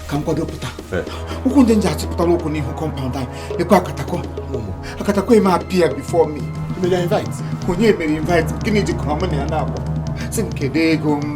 ka m kwado pụta ụkwụ ndị nji achịpụtala ụkwụ n'ihu compound anyị lekwa akatakọ akatakọ e mee appear before me onye mere invite gịnị jikọrọ mụ na ya naabọ sị m kedu ego m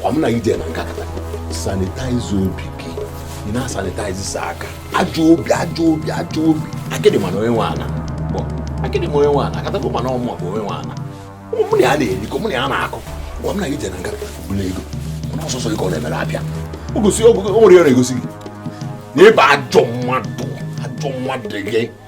kwa m na ije na nkakata sanitize obi gị ị na-asanitize sọ aka ajọ obi ajọ obi ajọ obi akịdị mana onye nwe ala bụ akịdị ma onye nwe ala akatago mana ọmụma bụ onye nwe ala ụmụ mụ na ya na-erikọ mụ na ya na-akụ kwa m na ije na nkakata bụla ego mana ọ sọsọ ihe ọ na-emere abịa o gosi o nwere ya na-egosi gị na ị bụ ajọ mmadụ ajọ mmadụ gị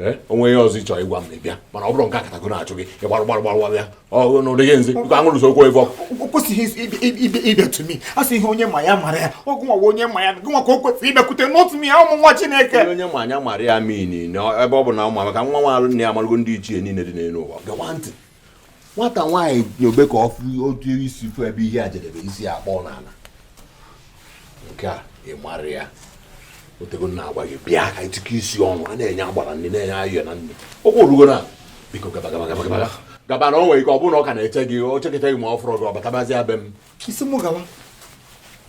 Eh, o nwe ihe ọzọ ị chọ ịgwa m bịa mana ọ bụrụ nke akatakọ na-achụ gị ị gbarụ gbarụ gbarụ gbarụ ya n'ụdị gị nzi nke aṅụrụ sokwu ebe ọ kwesịghị ịbịa to me a sị ihe onye ma ya mara ya ọ gị nwa onye ma ya gị nwa ka o kwesịrị ịbịakwute not me nwa Chineke onye ma anya mara ya meaning ebe ọ bụ na ọ ma maka nwa nwa alụ nne ya amarụgo ndị ichie niile dị n'elu ụwa gewa ntị nwata nwaanyị nyobe ka ọ fụ otu isi fụ ebe ihe a jedebe isi akpọ n'ala nke a ị mara ya otego m na-agwa gị bịa ka ị tụkọ isi ọnụ a na-enye agbara nri na-enye ayọ na nri okwu orugo na biko gaba gaba gaba gaba gaba na o nwere ike ọ bụrụ na ọ ka na-eche gị o cheketa gị ma ọ fụrụ gị ọ batabazịa be m isi mụ gawa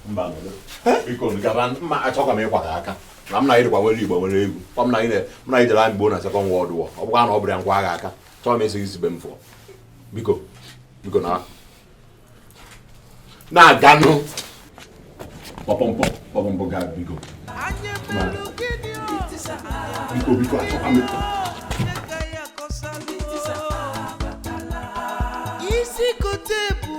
mba biko gaba ma achọkwa m ịkwa gị aka na m na ị dịkwa nwere igbo nwere egwu ọ m na ị na-ejere anyị gboo na Second World War ọ bụkwa na ọ bụrụ ya ngwa agha aka chọọ m a sị gị si be m fụọ biko biko na na-aganụ kpọpọmpọ kpọpọmpọ ga biko biko biko achọkwa m isi kote ebu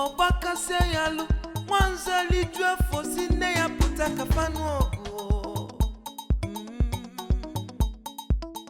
ọ gbakasịa ya alụ nwanza liju afọ sị nne ya pụta ka fa nụọ ọgụ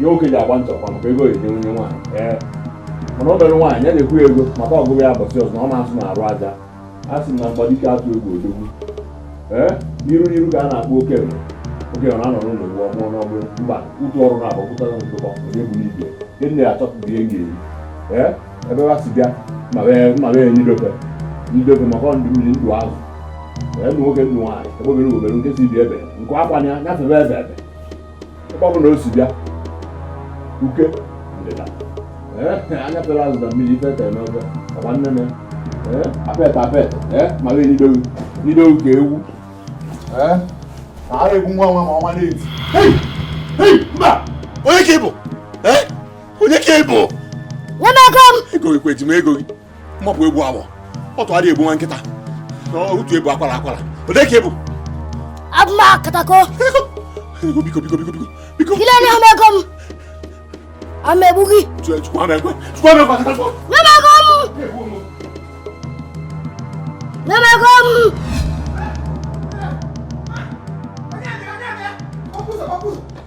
ihe oke ji agba nchọkwa maka ego ejide onye nwaanyị mana obere nwaanyị ya na-ekwu ego maka ọgụgụ ya ụbọsị ọzọ na ọ na-asụ na arụ aja a sị na mgbadike atụ egwu odogwu ee n'iru n'iru ka a na-akpọ okenye okenye na-anọ n'ụlọ ewu amụọ n'ọgbụ mba ụtụ ọrụ na agbapụtara ntụkọ onye bụ n'ibie ndị nne ya achọpụta ihe ga-eri ee ebe ha si bịa ma wee enye idobe idobe maka ndụ mmiri ndụ azụ ee ndụ nwoke ndụ nwaanyị egbe bere ugo bere nke sị ibe ya ebe nku kwaa ya nya febe ebe ebe ebe ọ bụ na o si bịa uke ndịda anya pere azụ na mmiri ife tere n'ofe ọgba nne m apet apet ma wee n'idowu n'idowu ka ewu ara egwu nwa nwa ma ọnwa na-eti mba onye ka ị bụ onye ka ị bụ nwanne aka m ego gị kweji m ego gị mma bụ egbu awọ ọtụ adị egbu nwa nkịta otu ebu akwara akwara onye ka ị bụ abụma katako biko biko biko biko biko kile ni hama ego m ama egbu gị chukwu ama ekwe chukwu ama ekwe katako nye m ego m nye m ego m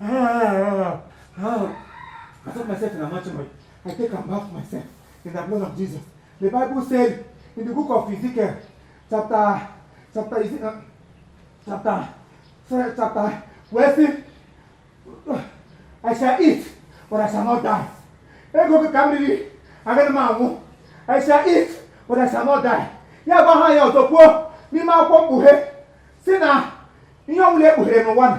Ah, ah, I soak myself in the anointing oil, I take and bath myself in the blood of Jesus. The Bible said in the book of Ezekiel, chapter, chapter, is it, uh, chapter, sorry, chapter, where see, I shall eat, but I shall not die. Ego ka m riri, agaghị m anwụ. I shall eat, but I shall not die. Ya gwa ha ya ọzọ kwuo n'ime akwụkwọ mkpughe si na ihe ọbụla ekpughere n'ụwa na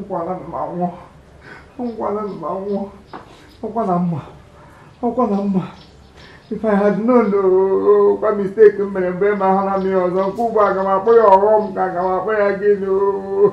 ngwala mma nwụọ ngwala mma nwụọ ọkwa na m ma ọkwa na m ma if i had known oh, kwa mistake m mere mgbe ma ahụla m ya ọzọ nke ugbu a aga m akpọ ya ọghọm ka aga m akpọ ya gịnị oh.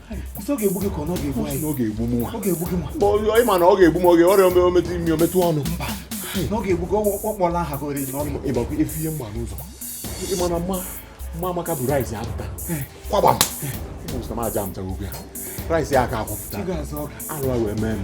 ọ ga-egbu gị ka ọ ga-egbu anyị ọ ga-egbu m ọ ga-egbu gị nwa ị ma na ọ ga-egbu m oge ọrịa ome o metụ imi o metụ ọnụ mba na ọ ga-egbu gị ọkpọla aha gị oriri n'ọnụ ịgbakwa efu ihe mgba n'ụzọ ị ma na mama amaka bu rice apụta kwagba m ụzọ m aja m jagogo ya rice ya aka akwụpụta alụ wee mee m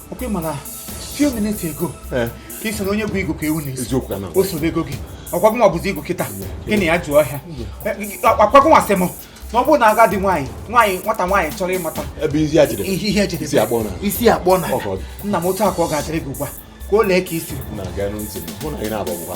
ọkwa ị ma na few minutes ago eh. ka ị sị na onye bụ igwe ka ewu na-esi o sobe ego gị ọkwa gị nwa bụzi igwe kịta gị na ya jụọ ọhịa ọkwa gị nwa sị m na ọ bụrụ na agadi nwaanyị nwaanyị nwata nwaanyị chọrọ ịmata ebe isi ya jidere ihe jidere isi akpọ na isi akpọ na nna m otu aka ọ ga-adịrị gị ugbu a ka o lee ka isi na-aga na ntị mụ na gị na-abụ ọgwụkwa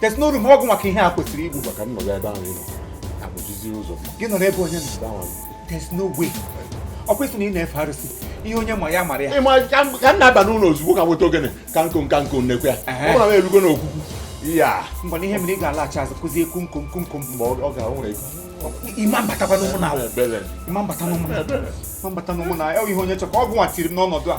There's no room ọgwụ maka ihe a kwesịrị igbu maka nnọgọ ebe ahụ ịnọ abụjizi ụzọ gị nọ n'ebe onye nọ ahụ there's no way ọ kwesịrị na ị na-efe arụsị ihe onye ma ya mara ya ị ma ka m na-aba n'ụlọ ozugbo ka m weta ogene ka m kụọ ka m kụọ n'ekwe ya ọ bụla m erugo n'okwukwu ya mgbe na ihe mere ị ga-alaghachi azụ kụzie kumkom kumkom mgbe ọ ga-ahụ nwere ị ma m batakwa n'ụmụnna ị ma m bata n'ụmụnna ị ma m bata n'ụmụnna ihe onye chọkwa ọgwụ nwa tiri m n'ọnọdụ a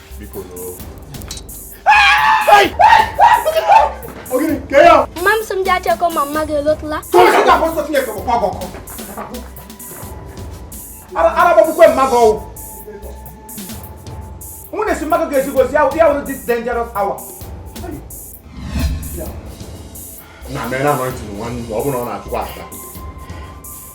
mama m sị m ji achekọ mama gị elotụla arabakwukwe mmadụ ọwụ mụ na-esi mmadụ ga-ezigozi ya wụrụ this dangerous hour na mere na amaghị tiri nwanne ọ bụrụ na ọ na-achụkwa aka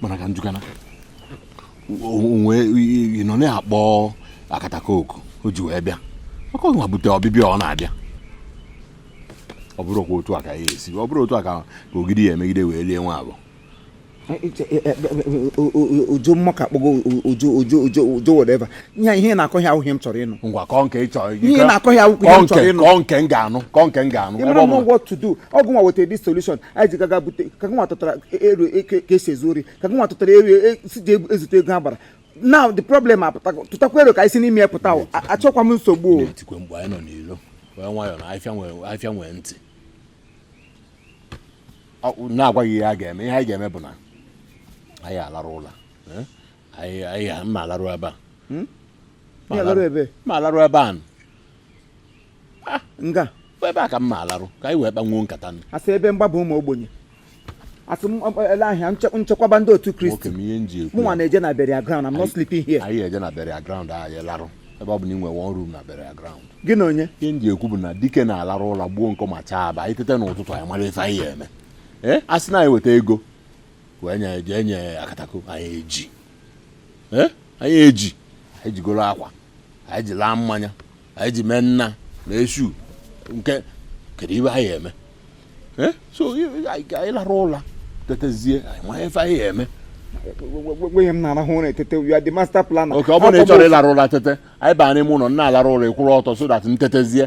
mana ka njụkana onwe ị nọ na-akpọ akatako oku o ji wee bịa maka ọnwa bute ọbịbịa ọ na-abịa ọ bụrụ kwa otu a ka ya esi ọ bụrụ otu a ka ogidi ya emegide wee lie enwe abụọ ojo mmaka akpọgo ojo ojo ojo ojo whatever ihe ị na-akọ ya awụghị ihe m chọrọ ịnụ ngwa kọọ nke ị chọrọ ihe ị na-akọ ya awụghị ihe m chọrọ ịnụ kọọ nke m ga-anụ kọọ nke m ga-anụ ịmara m what to do ọ gị nwa wetara this solution anyị ji gaa ga bute ka gị nwa tụtara ero ka e si ezu ori ka gị nwa tụtara ero e si je ezute ego agbara now the problem apụtago tụtakwa ero ka anyị si n'ime ya pụta achọkwa m nsogbu o etikwe mgbe anyị nọ n'ilo wee nwayọọ na afịa nwee ntị na-agwa gị ihe a ga-eme ihe anyị ga-eme bụ na anyị alarụ ụla eh? anyị ma alarụ ebe a hmm? ma alarụ ebe a ah, nga ebe a ka m ma alarụ ka anyị wee kpanwuo nkata nụ a sị ebe mgbaba ụmụ ogbenye a sị maria nchekwaba ndị otu kristi mụnwa na-eje na burial ground I'm not sleeping here anyị eje na burial ground anyị larụ ebe ọ bụ na ị nwere one room na burial ground gị na onye ihe m ji ekwu bụ na dike na-alarụ ụla gbuo nkọ ma chaa aba anyị tete n'ụtụtụ anyị mara ife anyị eme ee a sị na anyị weta ego enye akatako anyị eji eh? anyị eji anyị ji goro akwa anyị ji laa mmanya anyị ji mee nna na esu nke kedu ife anyị eme eh? so anyị lara ụla tetezie anyị ma ife anyị eme nweghị m na-arahụ ụra etete you are the master planner. okay ọ bụrụ na ị chọrọ ịlarụ ụla tete anyị baa n'ime ụlọ m na-alara ụla ị kwụrụ ọtọ so that m tetezie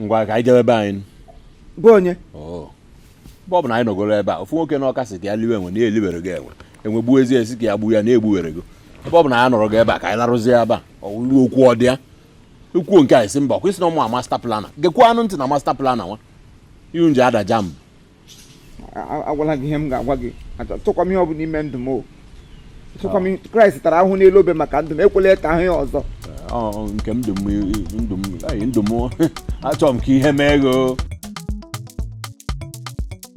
ngwa ka anyị jebe be anyị be onye oh. ebe ọ bụ na anyị nọgoro ebe a ofu nwoke n'ọka sị ka ya liwe enwe na ya eliberego enwe enwe gbuo ezi e sị ka ya gbuo ya na ya egbuwerego ebe ọ bụ na anyị nọrọgo ebe a ka anyị larụzie ebe a ọwụlụ okwu ọ dị ya ekwuo nke anyị si mba kwa ị sị na ọ mụa master planner gekwanụ ntị na master planner nwa ihu nje ada jambụ agwala gị ihe m ga-agwa gị achọkwa m ihe ọ bụla ime ndụ m o achọkwa m kraịst tara ahụhụ n'elu obe maka ndụ m ekwela ka ahụhụ ya ọzọ nke m ndụ m achọrọ m ka ihe mee gị